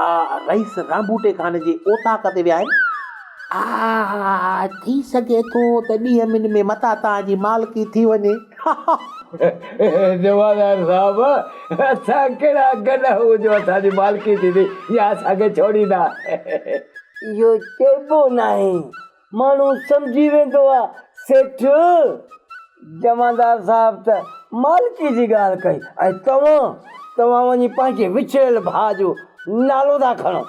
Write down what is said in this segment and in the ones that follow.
آء رئيس رانبوٽي خان جي اوطاق تي ويا آهن. آء ٿي سگهي ٿو ته ڏينهن ٻن ۾ متان توهان جي مالڪي ٿي وڃي. جمعدار صاحب اسان ڪهڙا گڏ آهيون جو اسان جي مالڪي ٿيندي يا اسان کي ڇوڙيندا. اهو چئبو ناهي ماڻهو سمجهي ويندو آ سيٺ. جمعدار صاحب ته مالڪي جي ڳالهه ڪئي ۽ توهان توهان وڃي پنهنجي وڇڙيل ڀاء جو نالو ٿا کڻو.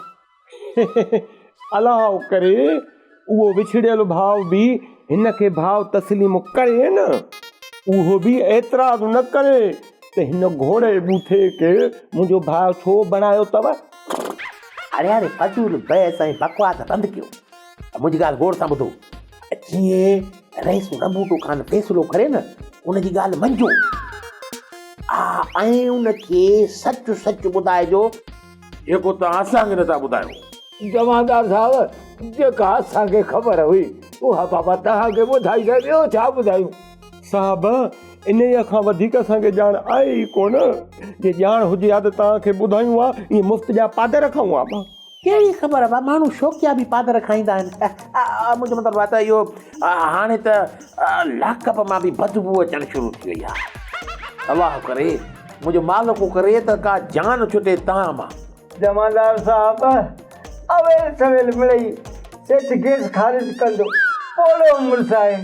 الاء ڪري اهو وڇڙيل ڀاء به هن کي ڀاء تسليم ڪري نه. اهو به اعتراض نه ڪري ته هن گهوڙي ٻوٿي کي منهنجو ڀاء ڇو بڻايو اٿو. اڙي اڙي فضول بحث ۽ بڪواس بند ڪيو. منهنجي ڳالهه غور سان ٻڌو ۽ جيئن رئيس رنبوٽو خان فيصلو ڪري نه، ان جي ڳالهه مڃجو. آء ۽ ان کي سچ سچ ٻڌائجو. جيڪو توهان اسان کي نٿا ٻڌايو. جمعدار صاحب، جيڪا اسان کي خبر هئي، اها بابا توهان کي ٻڌائي ته ٻيو ڇا ٻڌايون؟ صاحب، انهيء کان وڌيڪ اسان کي ڄاڻ آهي ئي ڪونه. جي ڄاڻ هجي ها ته توهان کي ٻڌايون ها، ائين مفت جا پادر کائون ها ٻه؟ ڪهڙي خبر ڀا ماڻهو شوقيا به پادر کائيندا آهن اهه منهنجو مطلب آهي ته اهو هاڻي ته لاڪ اپ مان به بدبو اچڻ شروع ٿي وئي آهي الله ڪري منهنجو مالڪ ڪري ته ڪا جان ڇٽي تان مان. جمعدار صاحب اويل سويل مڙئي سيٺ گيس خارج ڪندو پوڙهو مڙس آهي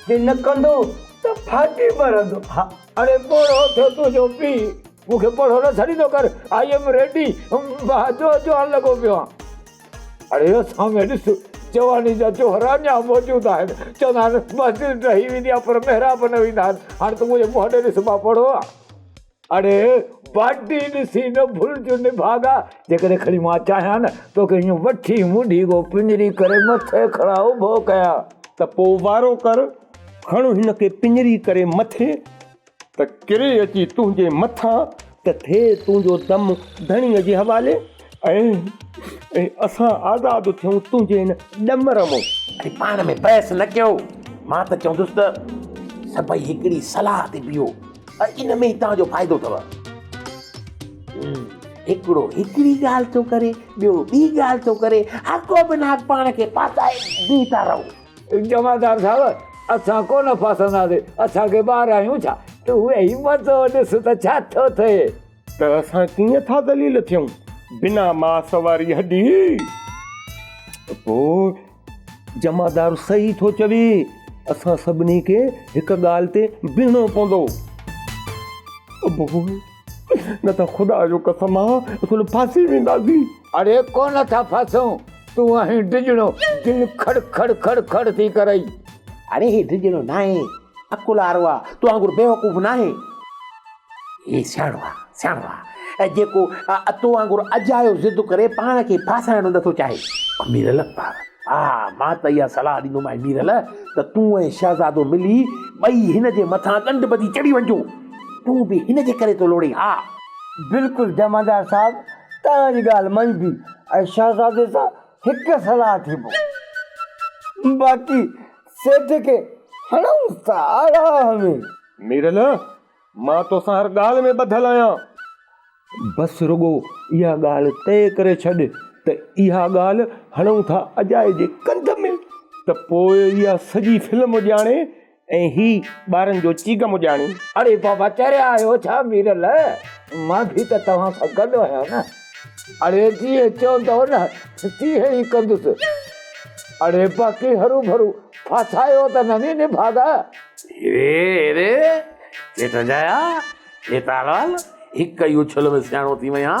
جي نه ڪندو ته ڦاٽي مرندو ها. اڙي پوڙهو ٿيو تنهنجو پيء. مون کي پوڙهو نه سڏيندو ڪر، آء ايم ريڊي، مان جو جوان لڳو پيو آهيان. اڙي هو سامهين ڏس، جواني جا جوهر اڃا موجود آهن، چوندا آهن مسجد ڊهي ويندي آهي پر محراب نه ويندا آهن، هاڻ تون منهنجي منهن ڏي ڏس مان پوڙهو آهيان. اڙي باڊي ڏسي نه ڀلج نڀاڳا، جيڪڏهن کڻي مان چاهيان نه توکي ائين وٺي مونڊيگو پڃري ڪري مٿي کڻان اڀو ڪيان. ته پوء وارو ڪر، کڻ هن کي پڃري ڪري مٿي. ته ڪري اچي تنهنجي مٿان ته ٿئي تنهنجو دم ڌڻيء جي حوالي ۽ اسان آزاد ٿيون تنهنجي هن ڏمر مون. وري پاڻ ۾ بحث نه ڪيو، مان ته چوندس ته سڀئي هڪڙي صلاح تي بيهو ۽ ان ۾ ئي توهان جو فائدو اٿو. هڪڙو هڪڙي ڳالهه ٿو ڪري، ٻيو ٻي ڳالهه ٿو ڪري، هاڪو بنهاڪ پاڻ کي ڦاسائي بيهي ٿا رهو. جمعدار صاحب! اسان ڪونه ڦاسنداسين، اسان ڪي ٻار آهيون ڇا؟ تون ويهي مزو ڏس ته ڇا ٿو ٿئي. ته اسان ڪيئن ٿا ذليل ٿيون، بنا ماس واري هڏي! ته پوء جمعدار صحيح ٿو چوي، اسان سڀني کي هڪ ڳالهه تي بيهڻو پوندو. ابو! نه ته خدا جو قسم آ، اسين ڦاسي وينداسين. اڙي ڪو نه ٿا ڦاسون تون آهين ڊڄڻو دل کڙ کڙ کڙ کڙ ٿي ڪرئي. اڙي هي ڊڄڻو ناهي عقل وارو آ تو وانگر بيوقوف ناهي. هي سياڻو آ سياڻو آ جيڪو تو وانگر اجايو ضد ڪري پاڻ کي ڦاسائڻ نه ٿو چاهي. ميرل ها مان ته اها صلاح ڏيندومانء ميرل ته تون ۽ شهزادو ملي ٻئي هن جي مٿان ڳنڍ ٻڌي چڙهي وڃجو تون به هن جي ڪري ٿو لوڙين ها. بلڪل جمعدار صاحب توهان جي ڳالهه مڃبي ۽ شهزادي سان هڪ صلاح ٿيبو باقي سيٺ کي هڻئونس ته آرام ۾. ميرل مان توسان هر ڳالهه ۾ ٻڌل آهيان. بس رڳو اها ڳالهه طئي ڪري ڇڏ ته اها ڳالهه هڻئون ٿا اجائي جي ڪنڌ ۾ ته پوء اها سڄي فلم ڄاڻي ۽ هي ٻارن جو چيڪ مجاڻي. اڙي بابا چريا آهيو ڇا ميرل مان به ته توهان سان گڏ آهيان نه. اڙي جيئن چوندؤ نه تيئن ئي ڪندس. اڙي باقي هرو ڀرو ڦاسايو ته نه ني نڀاڳا. هيري هيري چيٽ جايا هيتالوال هڪ ئي اڇل ۾ سياڻو ٿي وئين ها.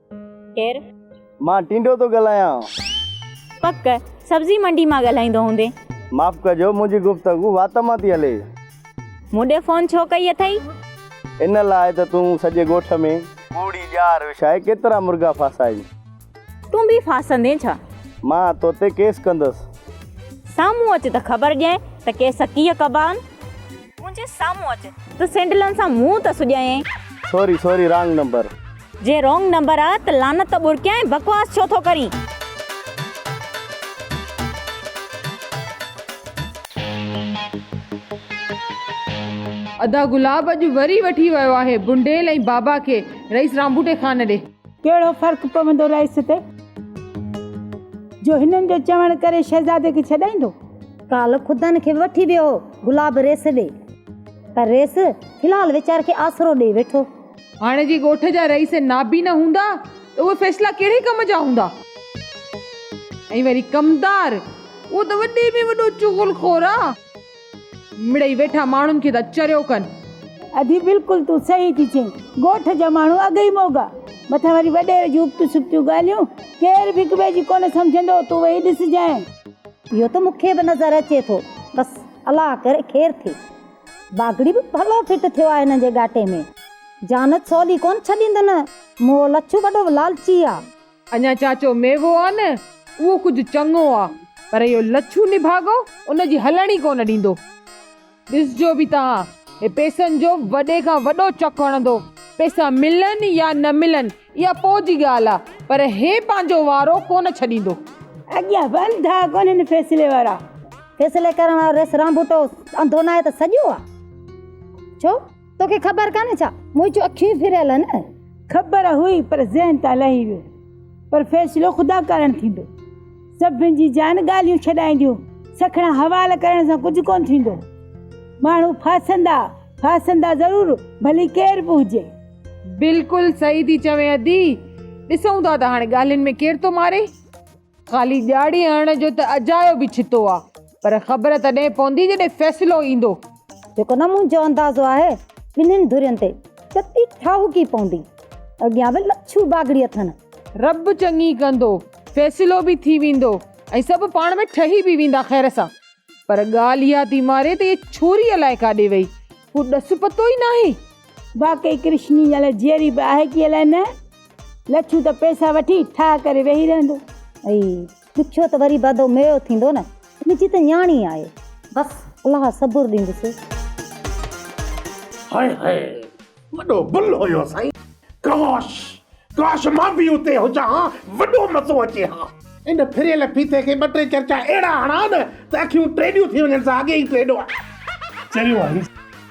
ڪير؟ مان ٽينڊو ٿو ڳالهايان. پڪ، سبزي منڊي مان ڳالهائيندو هوندين. معاف ڪجو، منهنجي گفتگو وات مان ٿي هلي. مون ڏي فون ڇو ڪئي اٿئي؟ ان لاء ته تون سڄي ڳوٺ ۾. ڪوڙي ڄار وڇائي ڪيترا مرغا ڦاسائين. تون به ڦاسندين ڇا؟ مان تو تي ڪيس ڪندس. سامهون اچ ته خبر ڏينء ته ڪيس ڪيئن ڪبا آهن. منهنجي سامهون اچ. ته سينڊلن سان منهن ته سڄائين. Sorry sorry wrong number. جي رونگ نمبر آ ته لعنت ٻرڪيائين بڪواس ڇو ٿو ڪرين. ادا گلاب اڄ وري وٺي ويو آهي بنڊيل ۽ بابا کي رئيس رانبوٽي خان ڏي. ڪهڙو فرق پوندو رئيس تي جو هنن جو چوڻ ڪري شهزادي کي ڇڏائيندو. ڪالهه خدن کي به وٺي ويو هو گلاب ريس ڏي پر ريس في الحال ويچاري کي آسرو ڏئي ويٺو. هاڻي جي ڳوٺ جا رئيس نابينا هوندا ته اهي فيصلا ڪهڙي ڪم جا هوندا؟ ۽ وري ڪمدار اهو ته وڏي ۾ وڏو چغل خور آ. مڙئي ويٺا ماڻهن کي ٿا چريو ڪن. ادي بلڪل تون صحيح ٿي چئين ڳوٺ جا ماڻهو اڳ ئي موڳا مٿان وري وڏيري جون ابتيون سبتيون ڳالهيون ڪير به هڪ ٻئي جي ڪونه سمجهندو تون ويهي ڏسجانء. اهو ته مون کي به نظر اچي ٿو. بس الله ڪري خير ٿئي. باگڙي به ڀلو فٽ ٿيو آهي هن جي ڳاٽي ۾. جانت سولي ڪونه ڇڏيندن. مون لڇو وڏو لالچي آ. اڃا چاچو ميوو آ نه اهو ڪجهه چڱو آ پر اهو لڇو نڀاڳو ان جي هلڻ ئي ڪونه ڏيندو. ڏسجو به ته ها، هي پئسن جو وڏي کان وڏو چڪ هڻندو. پئسا ملن يا نه ملن، اها پوء جي ڳالهه آ، پر هي پنهنجو وارو ڪونه ڇڏيندو. اڳيان به انڌا ڪونهن فيصلي وارا. فيصلي ڪرڻ وارو ريس رانڀوٽو انڌو ناهي ته سڄو آ. ڇو؟ توکي خبر ڪانهي ڇا؟ مون جون اکيون ئي ڦريل آهن. خبر هئي پر ذهن تان لهي ويو. پر فيصلو خدا ڪارڻ ٿيندو. سڀن جي جان ڳالهيون ڇڏائينديون، سکڻا حوال ڪرڻ سان ڪجهه ڪونه ٿيندو. ماڻهو ڦاسندا، ڦاسندا ضرور، ڀلي ڪير به هجي. بلڪل صحيح ٿي چوين ادي. ڏسون ٿا ته هاڻي ڳالهين ۾ ڪير ٿو ماري. خالي ڄاڙي هڻڻ جو ته اجايو به ڇتو آ پر خبر تڏهن پوندي جڏهن فيصلو ايندو. جيڪو نه منهنجو اندازو آهي ٻنهين ڌرين تي چتي ٺاهوڪي پوندي. اڳيان به لڇو باگڙي اٿن. رب چڱي ڪندو. فيصلو به ٿي ويندو ۽ سڀ پاڻ ۾ ٺهي به ويندا خير سان. پر ڳالهه اها ٿي ماري ته هيء ڇوري الائي ڪاڏي وئي. ڪو ڏس پتو ئي ناهي. واقعي ڪرشني ڄڻ جيئري به آهي ڪي الائي نه. لڇو ته پئسا وٺي ٺاهه ڪري ويهي رهندو. اي ڏکيو ته وري بدو ميو ٿيندو نه. منهنجي ته نياڻي آهي. بس الله صبر ڏيندس. هاء هاء وڏو گل هيو سائين. ڪاش ڪاش مان به اتي هجان ها وڏو مزو اچي ها. ان ڦريل ڦيٿي کي ٻه ٽي چرچا اهڙا هڻان ته اکيون ٽيڏيون ٿي وڃن سا اڳي ئي ٽيڏو آهي. چريو آهي.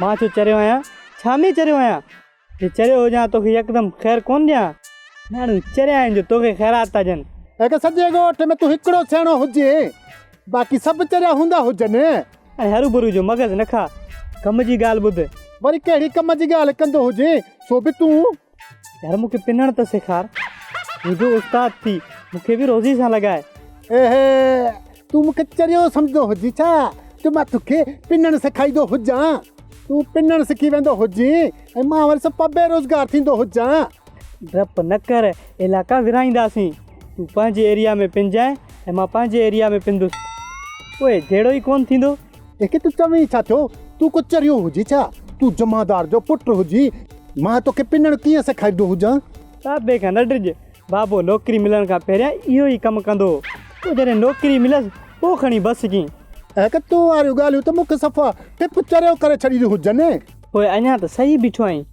مان ڇو چريو آهيان؟ ڇا ۾ چريو آهيان؟ جي چريو هجان توکي يڪدم خير ڪونه ڏيان. ماڻهو چريا آهن جو توکي خيرات ٿا ڏين. اگه سڄي ڳوٺ ۾ تون هڪڙو سياڻو هجين باقي سڀ چريا هوندا هجن. هاڻي هرو برو جو مغز نه کا ڪم جي ڳالهه ٻڌ. وري ڪهڙي ڪم جي ڳالهه ڪندو هجين سو به تون. يار مون کي پنڻ ته سيکار. منهنجو استاد ٿي مون کي به روزي سان لڳاء. اهي تون مون کي چريو سمجهندو هجين ڇا جو مان تو کي پنڻ سيکاريندو هجان. تون پنڻ سکي ويندو هجين ۽ مان وري سپا بي روزگار ٿيندو هجان. ڊپ نه ڪر علائقا ورهائينداسين. تون پنهنجي ايريا ۾ پنجانء ۽ مان پنهنجي ايريا ۾ پندس. پوء جهيڙو ئي ڪونه ٿيندو. اکي تون چوين ڇا ٿيو؟ تون ڪو چريو هجي ڇا؟ تون جمعدار جو پٽ هجي مان توکي پنڻ ڪيئن سيکاريندو هجان؟ بابي کان نه ڊڄ، بابو نوڪري ملڻ کان پهريان اهو ئي ڪم ڪندو هو، پوء جڏهن نوڪري مليس پوء کڻي بس ڪيئين. اکي تون واريون ڳالهيون ته مون کي صفا ٽپ چريو ڪري ڇڏينديون هجن. پوء اڃا ته سهي بيٺو آهين،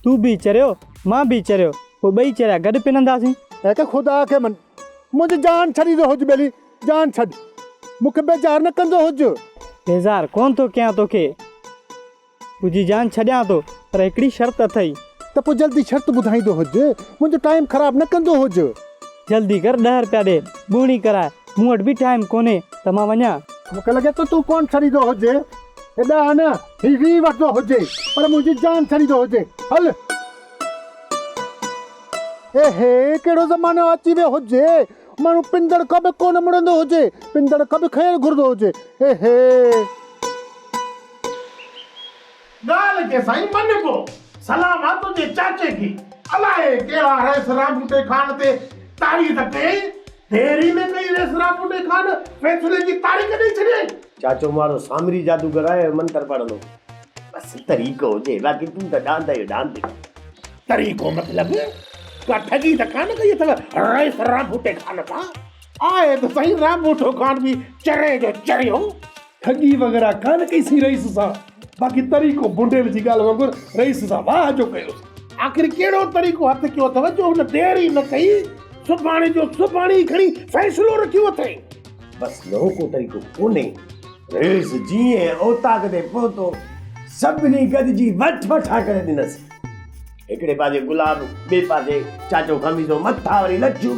تون به چريو مان به چريو، پوء ٻئي چريا گڏ پننداسين. اکي خدا کي من، منهنجي جان ڇڏيندو هج ٻيلي، جان ڇڏ، مون کي بيزار نه ڪندو هج. بيزار ڪونه ٿو ڪيان توکي، تنهنجي جان ڇڏيان ٿو، پر هڪڙي شرط اٿئي. ته پوء جلدي شرط ٻڌائيندو هج، منهنجو ٽائيم خراب نه ڪندو هج. جلدي ڪر، ڏهه رپيا ڏي، ٻوهڻي ڪراء، مون وٽ به ٽائيم ڪونهي ته مان وڃان. مون کي لڳي ٿو تون ڪونه ڇڏيندو هج، هي ڏهه نه، هي ويهه وٺندو هج، پر منهنجي جان ڇڏيندو هج، هل. اي هي ڪهڙو زمانو اچي ويو هج، ماڻهو پندڙ کٻ ڪونه مڙندو هجي، پندڙ کٻ کنيل گهرندو هجي. اي هي! ڳالهه ڪي سائين مڃبو. سلام آ تنهنجي چاچي کي. الائي ڪهڙا رئيس رامپوٽي خان تي تاڙي ته ڪيائين. ديري ۾ ڪئي رئيس رامپوٽي خان فيصلي جي تاڙي ڪڍي ڇڏيائين. چاچو مارو سامري جادوگر آهي جو منتر پڙهندو. بس طريقو هجي باقي تون ته ڏاند جو ڏاند آهين. طريقو مطلب؟ ڪا ٺڳي ته ڪانه ڪئي اٿو رئيس رانڀوٽي خان کان؟ آهي ته سائين رانڀوٽو خان به چريء جو چريو. ٺڳي وغيره ڪانه ڪئي سين رئيس سان. باقي طريقو بونڊيل جي ڳالهه وانگر رئيس سان واهه جو ڪيوس. آخر ڪهڙو طريقو هٿ ڪيو اٿئو جو هن دير ئي نه ڪئي سڀاڻي جو سڀاڻي ئي کڻي فيصلو رکيو اٿئي. بس ٻيو ڪو طريقو ڪونهي. رئيس جيئن اوطاق تي پهتو سڀني گڏجي وٺ وٺا ڪري ڏنس. هڪڙي پاسي گلاب ٻئي پاسي چاچو خميزو مٿان وري لڇون.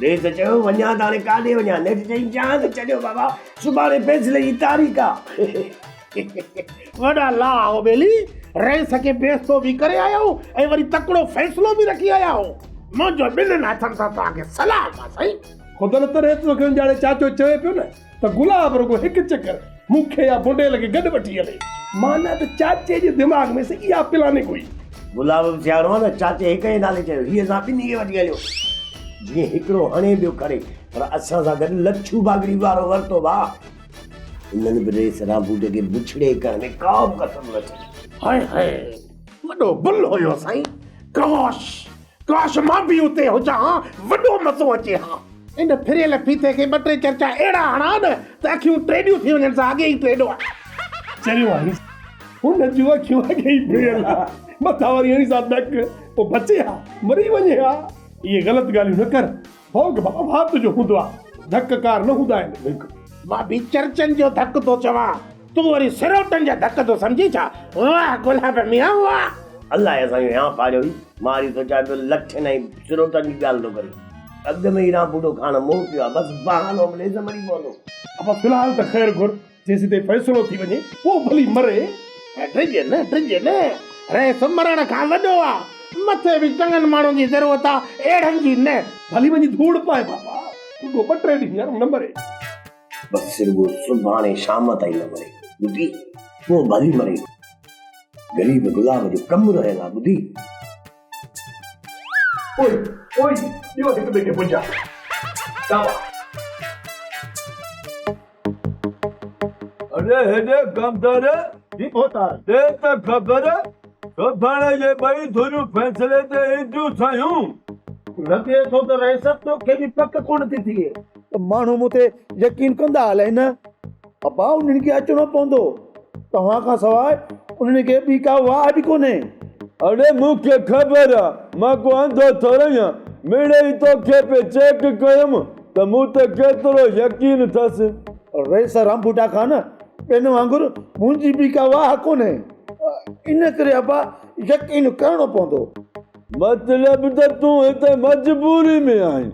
نيٺ چيو، وڃان ته هاڻي ڪاڏي وڃان؟ نيٺ چيائين، جهان کي ڇڏيو بابا، سڀاڻي فيصلي جي تاريخ آ. وڏا لا آئون ٻيلي رئيس کي بيستو به ڪري آيا آهون ۽ وري تڪڙو فيصلو به رکي آيا آهون. منهنجو ٻنهن هٿن سان توهان کي سلام آ سائين. خدل تر هيت توکي اونجهاڙي چاچو چوي پيو نه. ته گلاب رڳو هڪ چڪر مون کي يا بونڊيل کي گڏ وٺي هلي. معنيٰ ته چاچي جي دماغ ۾ سڄي اها پلاننگ هئي. گلاب به سياڻو هو نه، چاچي هڪ ئي نالي چيو، هيء اسان ٻنهي کي وٺي هليو. جيئن هڪڙو هڻي ٻيو کڻي، پر اسان سان گڏ لڇو باگڙي وارو ورتو ڀاء. انهن به ريس ران بوٽ کي بڇڙي ڪرڻ ۾ ڪا به ڪسر نه ڇڏي. هائي هائي! وڏو بل هيو سائين! ڪاش! ڪاش مان به اتي هجان ها وڏو مزو اچي ها. ان ڦريل ڦيٿي کي ٻه ٽي چرچا اهڙا هڻان نه ته اکيون ٽيڏيون ٿي وڃن سا اڳي ئي ٽيڏو چريو آهي. هن جون اکيون اڳي ئي ڦريل آهن مٿان وري اهڙي سا نڪ پوء بچي ها مري وڃي ها. اهي غلط ڳالهيون نه ڪر ڀوڳ ڀاء ڀات جو هوندو آ، ڌڪ ڪار نه هوندا آهن ڀوڳ. مان به چرچن جو ڌڪ ٿو چوان، تون وري سروٽن جا ڌڪ ٿو سمجهين ڇا؟ واهه گلاب ميان واهه. الله جا سائين ويهان ڦاڙيو هي، مان وري سوچيان پيو لٺين ۽ سروٽن جي ڳالهه ٿو ڪري. اڳ ۾ ئي رانڀوٽو کاڻ مئو پيو آ، بس بهانو مليس ته مري پوندو. ابا في الحال ته خير گهر. جيسيتائين فيصلو ٿي وڃي، پوء ڀلي مري. ڊڄ نه، ڊڄ نه، رئيس مرڻ کان وڏو آ. مٿي به چڱن ماڻهن جي ضرورت آ، اهڙن جي نه. ڀلي وڃي ڌوڙ پائي بابا، رڳو ٻه ٽي ڏينهن ھينئر نه مري. بس رڳو سڀاڻي شام تائين نه مري، ٻڌي، پوء ڀلي مري. غريب گلاب جو ڪم رهيل آ، ٻڌي. پوء، پوء ڏيو هڪ ٻئي کي پنجا. ڏابا. اڙي هيڏي گندر جي ڀوتار ڏي ته خبر، سڀاڻي جي ٻئي ڌريون فيصلي تي اينديون سيون. لڳي ٿو ته رياست توکي به پڪ ڪونه ٿي ٿئي. ته ماڻهو مون تي يقين ڪندا الائي نه. ابا انهن کي اچڻو پوندو. توهان کان سواء انهن کي ٻي ڪا واهه به ڪونهي. اڙي مون کي خبر آ، مان ڪو انڌو ٿورئي آهيان. مڙئي توکي پئي چيڪ ڪيم، ته مون تي ڪيترو يقين اٿس. رئيس رامپوٽا خان، ٻين وانگر منهنجي به ڪا واهه ڪونهي. ان ڪري ابا يقين ڪرڻو پوندو. مطلب ته تون هتي مجبوري ۾ آهين.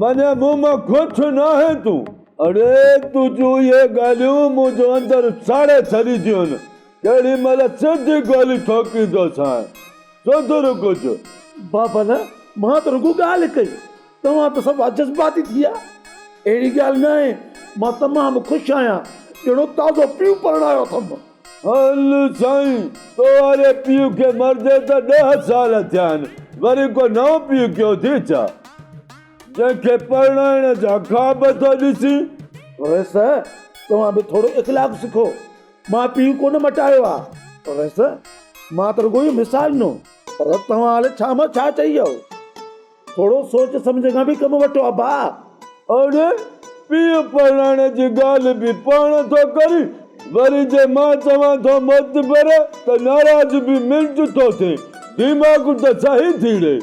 معني مون مان خوش ناهين تون. اڙي تون جون اهي ڳالهيون منهنجو اندر ساڙي ڇڏينديون آهن. ڪهڙي مهل سڌي گولي ٺوڪيندوسانء. سڌر ڪجهه. بابا نه، مان ته رڳو ڳالهه ڪئي. توهان ته سوا جذباتي ٿي ويا. اهڙي ڳالهه نه آهي. مان تمام خوش آهيان. ڄڻو تازو پيء پرڻايو اٿم. هل سائين، تو واري پيء کي مردي ته ڏهه سال ٿيا آهن. وري ڪو نئون پيء ڪيو ٿي ڇا؟ جنهن کي پرڻائڻ جا خواب ٿو ڏسين. ويس، توهان به ٿورو اخلاق سکو. مان پيء ڪونه مٽايو آهي. ويس، مان ته رڳو اهو مثال ڏنو. پر توهان هاڻي ڇا مان ڇا چئي ويا. ٿورو سوچ سمجهه کان به ڪم وٺو ابا. اڙي پيء پرڻائڻ جي ڳالهه به پاڻ ٿو ڪرين وري جي مان چوان ٿو معتبر ته ناراض به منٽ ٿو ٿئي ديماغ ته صحيح ٿي ڙي.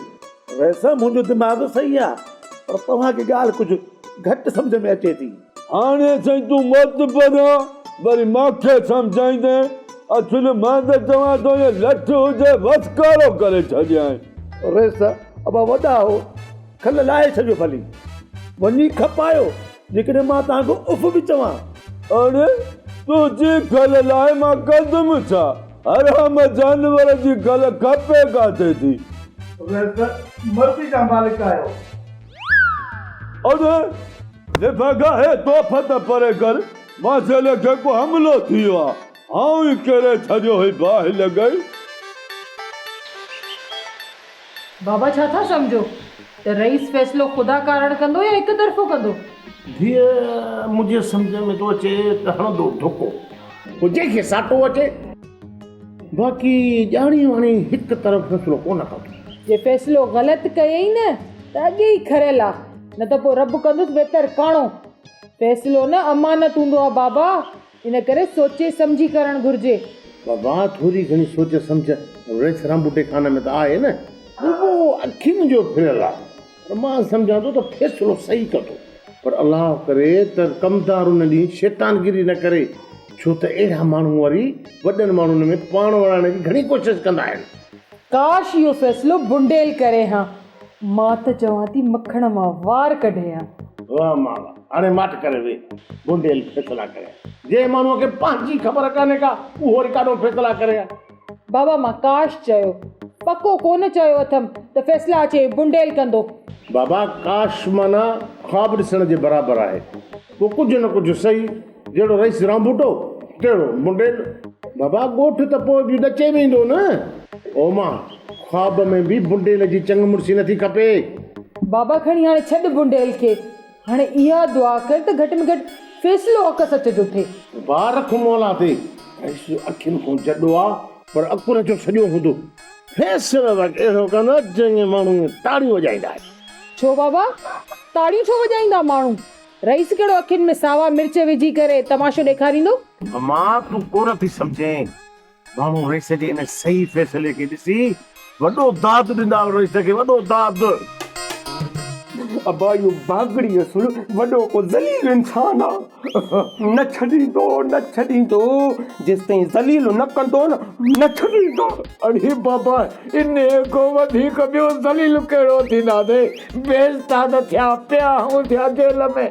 ويسه منهنجو دماغ صحيح آ پر توهان کي ڳالهه ڪجهه گهٽ سمجهه ۾ اچي ٿي. هاڻي سائين تون مت پريان وري مان کي سمجهائيندين اصل مان ته چوان ٿو اهي لٺ هجي وس ڪارو ڪري ڇڏيائين. ريس ابا وڏا هو کل لاهي ڇڏيو ڀلي وڃي کپايو جيڪڏهن مان توهان کي اف به چوان. اڙي تنهنجي کل لاهي مان ڪندم ڇا حرام جانور جي کل کپي ڪاٿي ٿي. ريس مرضي جا مالڪ آهيو. اڙي نڀا گاهي توڦ ته پري ڪر مان جيلي جيڪو حملو ٿيو آ آئون ئي ڪري ڇڏيو هي باهه لڳئي. بابا ڇا ٿا سمجهو ته رئيس فيصلو خدا ڪارڻ ڪندو يا هڪ طرفو ڪندو. ڌيء منهنجي سمجهه ۾ ٿو اچي ته هڻندو ڌڪو. هجي کي ساٽو اچي. باقي ڄاڻي واڻي هڪ طرف فيصلو ڪونه ڪبو. جي فيصلو غلط ڪيئي نه ته اڳي ئي کريل آ نه ته پوء رب ڪندس بهتر ڪاڻو. فيصلو نه امانت هوندو آ بابا ان ڪري سوچي سمجهي ڪرڻ گهرجي. بابا ٿوري گهڻي سوچ سمجهه ريس رامٻوٽي خانه ۾ ته آهي نه. ٻٻو اکين جو ڦريل آ. پر مان سمجهان ٿو ته فيصلو صحيح ڪندو. پر الله ڪري ته ڪمدار ان ڏينهن شيطانگيري نه ڪري، ڇو ته اهڙا ماڻهو وري وڏن ماڻهن ۾ پاڻ وڙهائڻ جي گهڻي ڪوشش ڪندا آهن. ڪاش اهو فيصلو بنڊيل ڪري هان. مان ته چوان ٿي مکڻ مان وار ڪڍي هان. واه مالا هاڻي ماٺ ڪري ويهه. بنڊيل فيصلا ڪري هان. جنهن ماڻهوء کي پنهنجي خبر ڪانهي ڪا، اهو وري ڪاڏو فيصلا ڪري هان. بابا مان ڪاش چيو. پڪو ڪونه چيو اٿم ته فيصلا اچي بنڊيل ڪندو. بابا ڪاش معنيٰ خواب ڏسڻ جي برابر آهي. پوء ڪجهه نه ڪجهه سهي. جهڙو رئيس رانڀوٽو تهڙو بنڊيل. بابا ڳوٺ ته پوء به ڏچي ويندو نه. او ماء! خواب ۾ به بنڊيل جي چڱ مڙسي نٿي کپي. بابا کڻي هاڻي ڇڏ بنڊيل کي. هاڻي اها دعا ڪر ته گهٽ ۾ گهٽ فيصلو حق سچ جو ٿئي. بار رک مولا تي ڪيس اکين کون جڏو آ. پر عقل جو سڄو هوندو. فيصلو به اهڙو ڪندو جنهن کي ماڻهو تاڙيون وڄائيندا آهن. ڇو بابا تاڙيون ڇو وڄائيندا ماڻهو. رئيس ڪهڙو اکين ۾ ساوا مرچ وجهي ڪري تماشو ڏيکاريندو. امان تون ڪونه ٿي سمجهين. ماڻهو رئيس جي ان صحيح فيصلي کي ڏسي وڏو داد ڏندا آهن رئيس کي وڏو داد. ابا اهو باگڙي اصل وڏو ڪو ذليل انسان آ نه ڇڏيندو نه ڇڏيندو جيستائين ذليل نه ڪندو نه نه ڇڏيندو. اڙي بابا انهي کان وڌيڪ ٻيو ذليل ڪهڙو ٿينداسين بيستاد ٿيا پيا هونڌيا جيل ۾.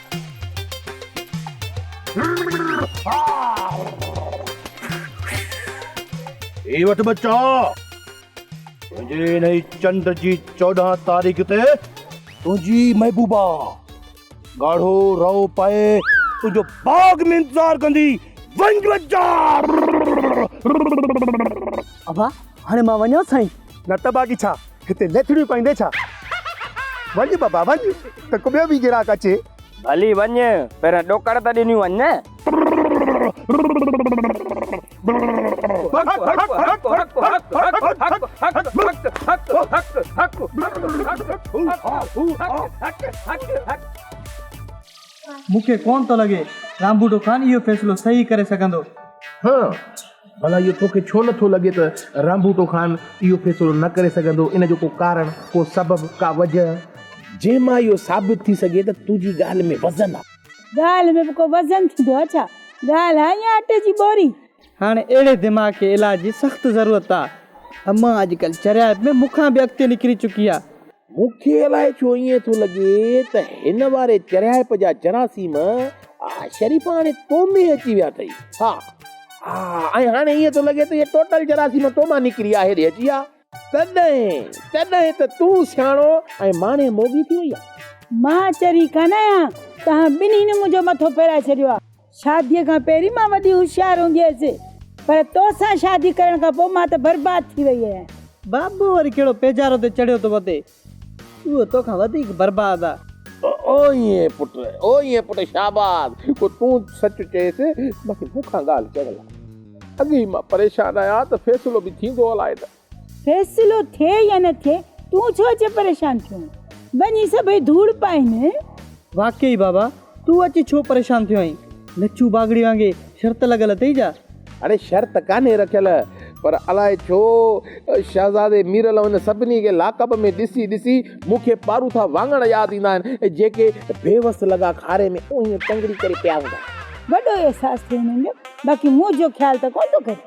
هي وٺ ٻچا تنهنجي انهي چنڊ جي چوڏهن تاريخ تي تنهنجي محبوبا ڳاڙهو رئو پائي تنهنجو باغ ۾ انتظار ڪندي ونج ٻچا ابا هاڻي مان وڃان سائين نه ته باقي ڇا هتي ليٿڙيون پائيندين ڇا؟ وڃ بابا وڃ ته ڪو ٻيو به گراڪ اچي. ڀلي وڃ پهريان ڏوڪڙ ته ڏنيون وڃ نه. مون کي ڪونه ٿو لڳي رامبوٽو خان اهو فيصلو صحيح ڪري سگهندو. ڀلا اهو توکي ڇو نه ٿو لڳي ته رامبوٽو خان اهو فيصلو نه ڪري سگهندو، ان جو ڪو ڪارڻ، ڪو سبب، ڪا وجهه. جنهن مان اهو ثابت ٿي سگهي ته تنهنجي ڳالهه ۾ وزن آهي. ڳالهه ۾ به ڪو وزن ٿيندو آهي ڇا؟ ڳالهه آهي يا اٽي جي ٻوري؟ هاڻي اهڙي دماغ کي علاج جي سخت ضرورت آهي. امان اڄڪلهه چريائپ ۾ مون کان به اڳتي نڪري چڪي آهي. مون کي الائي ڇو ائين ٿو لڳي ته هن واري چريائپ جا جراثيم شريف هاڻي تو ۾ اچي ويا اٿئي. ها ها ۽ هاڻي ائين ٿو لڳي ته هي ٽوٽل جراثيم تو مان نڪري آ هيڏي اچي آ. تڏهن تڏهن ته تون سياڻو ۽ ماڻي موڳي ٿي وئي آ. مان چري ڪانه آهيان، توهان ٻنهين منهنجو مٿو ڦيرائي ڇڏيو آ. شاديء کان پهرين مان وڏي هوشيار هوندي هيس، پر تو سان شادي ڪرڻ کان پوء مان ته برباد ٿي وئي آهيان. بابو وري ڪهڙو پيجارو تي چڙهيو ٿو وتي، اهو تو کان وڌيڪ برباد آ. او ائين پٽ، او ائين پٽ، شاباس، ڪو تون سچ چئيس، باقي مون کان ڳالهه چڙهيل آ. اڳي ئي مان پريشان آهيان ته فيصلو به ٿيندو الائي نه. فيصلو ٿئي يا نه ٿئي تون ڇو اچي پريشان ٿيو آهين وڃي سڀئي ڌوڙ پائين. واقعي بابا تون اچي ڇو پريشان ٿيو آهين لڇو باگڙي وانگي شرط لڳل اٿئي ڇا. اڙي شرط ڪانهي رکيل پر الائي ڇو شهزادي ميرل هن سڀني کي لاڪپ ۾ ڏسي ڏسي مون کي پاروٿا واڱڻ ياد ايندا آهن ۽ جيڪي بيوس لڳا کاري ۾ اونهين ٽنگڙي ڪري پيا هوندا آهن. وڏو احساس ٿئي هنن جو باقي منهنجو خيال ته ڪونه ٿو ڪري.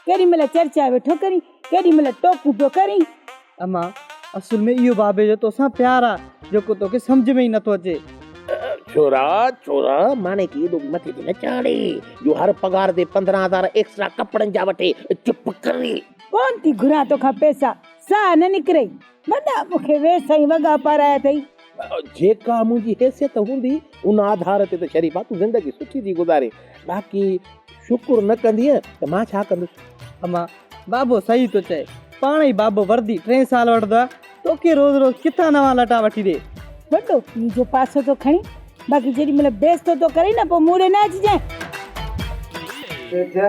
ڪيڏي مھل چرچا ويٺو ڪرين، ڪيڏي مھل ٽوڪون پيو ڪرين. امان، اصل ۾ اھو بابي جو توسان پيار آ، جيڪو توکي سمجھ ۾ ئي نٿو اچي. ڇورا، ڇورا، ماني کي ايڏو به مٿي تي نه چاڙھي، جو ھر پگھار تي پندرھن ھزار ايڪسٽرا ڪپڙن جا وٺي. چپ ڪري. ڪونھ ٿي گھران توکان پئسا، ساھ نه نڪرئي. وڏا مون کي ويس سائين وڳا پارايا اٿئي. جيڪا منهنجي حيثيت هوندي ان آڌار تي ته شريفا تون زندگي سٺي ٿي گذارين باقي شڪر نه ڪندينء ته مان ڇا ڪندس. اما، بابو صحيح ٿو چئي. پاڻ ئي بابو وردي ٽئين سال وٺندو آهي. توکي روز روز ڪٿان نوان لٽا وٺي ڏي. وڏو پيء جو پاسو ٿو کڻين باقي جيڏي مهل بيستو ٿو ڪرين نه پوء مون ڏي نه اچجانء. تيجه،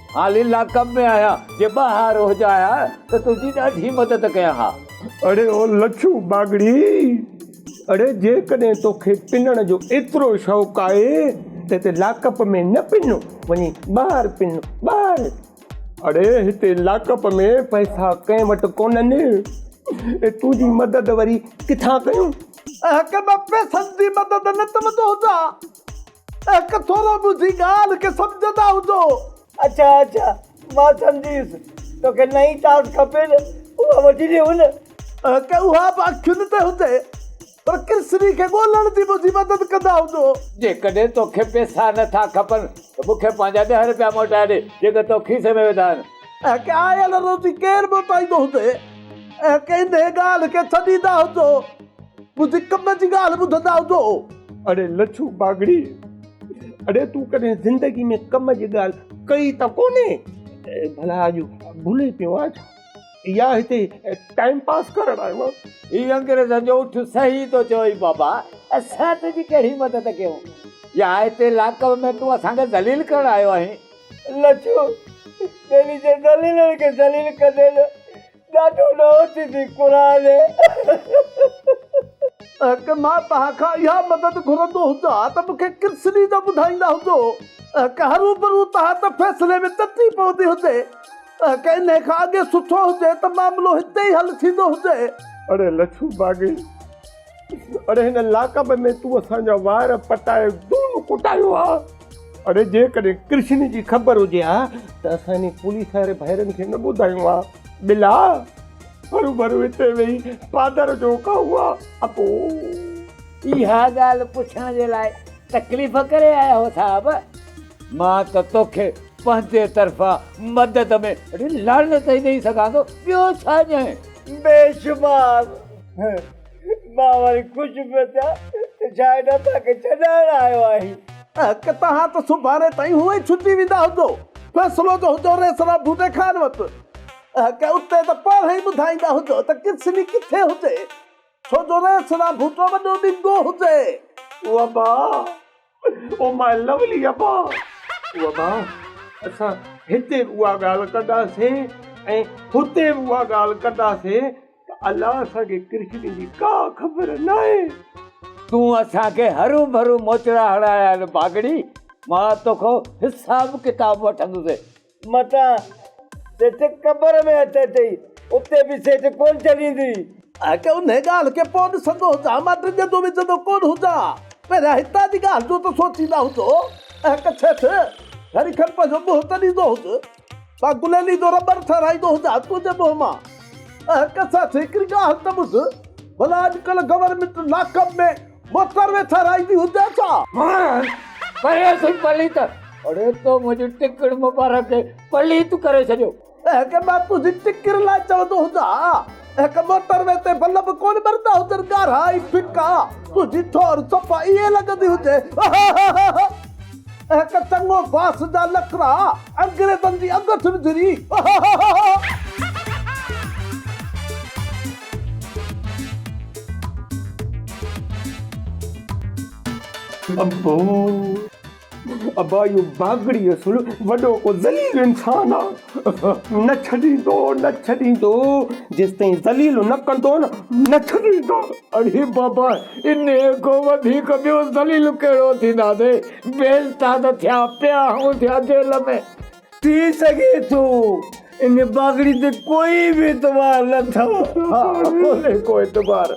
حالي لاڪپ ۾ آهيان، جي ٻاهر هجان ها ته تنهنجي ڏاڍي مدد ڪيان ها. اڙي او لڇو ٻاگهڙي، اڙي جيڪڏهن توکي پنڻ جو ايترو شوق آهي ته هتي لاڪپ ۾ نه پن، وڃي ٻاهر پن، ٻاهر. اڙي هتي لاڪپ ۾ پئسا ڪنهن وٽ ڪونهن، اي تنهنجي مدد وري ڪٿان ڪيون. اهڪ ٻه پئسن جي مدد نه ته وڌو جا. هڪ ٿورو ٻڌي ڳالهه کي سمجهندا هجو. اڇا اڇا مان سمجهيس توکي نئين ٽاس کپي نه اها وٺي ڏي هن. هڪ اها به اکين تي هجي پر ڪرسري کي ڳولهڻ جي منهنجي مدد ڪندا هجو. جيڪڏهن توکي پيسا نه ٿا کپن ته مونکي پنهنجا ڏهه رپيا موٽائي ڏي جيڪي تو کيسي ۾ وڌا آهن. ۽ ڪي آيل روزي ڪير موٽائيندو هجي ۽ ڪي نئين ڳالهه کي ڇڏيندا هجو، منهنجي ڪم جي ڳالهه ٻڌندا هجو. اڙي لڇو باگڙي، اڙي تون ڪڏهن زندگي ۾ ڪم جي ڳالهه ڪئي ته ڪونهي، ڀلا اڄ ڀلي پيو آهين ڇا؟ يا هتي ٽائيم پاس ڪرڻ آيو آهين؟ هي انگريزن جو اٺ صحيح ٿو چوئي بابا، اسان تنهنجي ڪهڙي مدد ڪيون يا هتي لاڪ ۾ تون اسان کي ذليل ڪرڻ آيو آهين؟ لڇو ٻيلي جي ذليلن کي ذليل ڪندي نه ڏاڍو ڏوهه ٿيندي قرآن اهڪ مان توهان کان اها مدد گهرندو هجان ها ته مون کي ڪرس ڏي نه ٻڌائيندا هجو اهڪ هروڀرو توهان ته فيصلي ۾ ٽٽي پوندي هجي اهڪ انهي کان اڳي سٺو هجي ته معاملو هتي ئي حل ٿيندو هجي. اڙي لڇو باغي اڙي هن لاقب ۾ تون اسان جا وار پٽائي دون ڪٽايو ها. اڙي جيڪڏهن ڪرشن جي خبر هجي ها ته اسان انهي پوليس واري ڀائرن کي نه ٻڌايون ها. ٻلا هروڀرو اتي ويهي پادر جو کائون ها. اپو. اها ڳالهه پڇڻ جي لاء تڪليف ڪري آيا هو صاحب. مان ته توکي پنهنجي طرفان مدد ۾ اڙي لعنت ئي ڏئي سگهان ٿو ٻيو ڇا ڄائين. بيشمار مان وري خوش پيو ٿيان ته شايد اسان کي ڇڏائڻ آيو آهين. اهڪ توهان ته سڀاڻي تائين هونئن ڇٽي ويندا هجو. فيصلو جو هجو ريسرا ڀوٽي خان وٽ. اهڪ اتي ته پاڻ ئي ٻڌائيندا هجو ته ڪرسني ڪٿي هجي. ڇو جو ريسرا ڀوٽو وڏو ڏنگو هجي. وبا! او ماء لولی ابا او ابا اسان هتي به اها ڳالهه ڪنداسين ۽ هتي به اها ڳالهه ڪنداسين ته الله اسان کي ڪرشن جي ڪا خبر ناهي. تون اسان کي هرون ڀرون موچڙا هڻايا آهن ڀاڳڙي، مان توکان حساب ڪتاب وٺندس متان سچ قبر ۾ هٿ اچئي، اتي به سچ ڪونه ڇڏيندي. آء ڪي انهيء ڳالهه کي پوء ڏسندو هجان، مان ڊڄندو وڄندو ڪونه هجان. پهريان هتان جي ڳالهه جو ته سوچيندا هجو. اهڪ ڇيٿ، گهڙي کن پنهنجو منهن ته ڏيندو هج. مان گليلي جو رٻڙ ٺهرائيندو هجان تنهنجي منهن مان. اهڪ سچ، هڪڙي ڳالهه ته ٻڌ، ڀلا اڄڪلهه گورنمينٽ لاڪ اپ ۾. مٿر ويٿارائيندي هجان ڇا؟ ماڻس پرينء سين پليت اڙي تو منهنجي ٽڪر مبارڪ کي پليت ڪري ڇڏيو. اهڪ مان تنهنجي ٽڪر لاء چوندو هجان ها اهڪ موٽر وي تي بلب ڪونه ٻرندا هجن ڳاڙها ۽ ڦڪا تنهنجي ٺوهر صفا ائين لڳندي هجي هههههه. اهڪ چڱو باس جا نخرا انگريزن جي اڳٺ وجهري اهههههه. ابا ابا اهو باگڙي اصل وڏو ڪو ذليل انسان آ نه ڇڏيندو نه ڇڏيندو جيستائين ذليل نه ڪندو نه ڇڏيندو. اڙي بابا انهي کان وڌيڪ ٻيو ذليل ڪهڙو ٿينداسين بي استاد ٿيا پيا آهون ٿيا جيل ۾. ٿي سگهي ٿو ان باگڙي تي ڪوئي به اعتبار نه اٿئو. ها ڪونهي ڪو اعتبار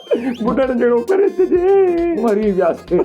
ٻڍڙ جهڙو ڪري ڇڏي مري وياسين.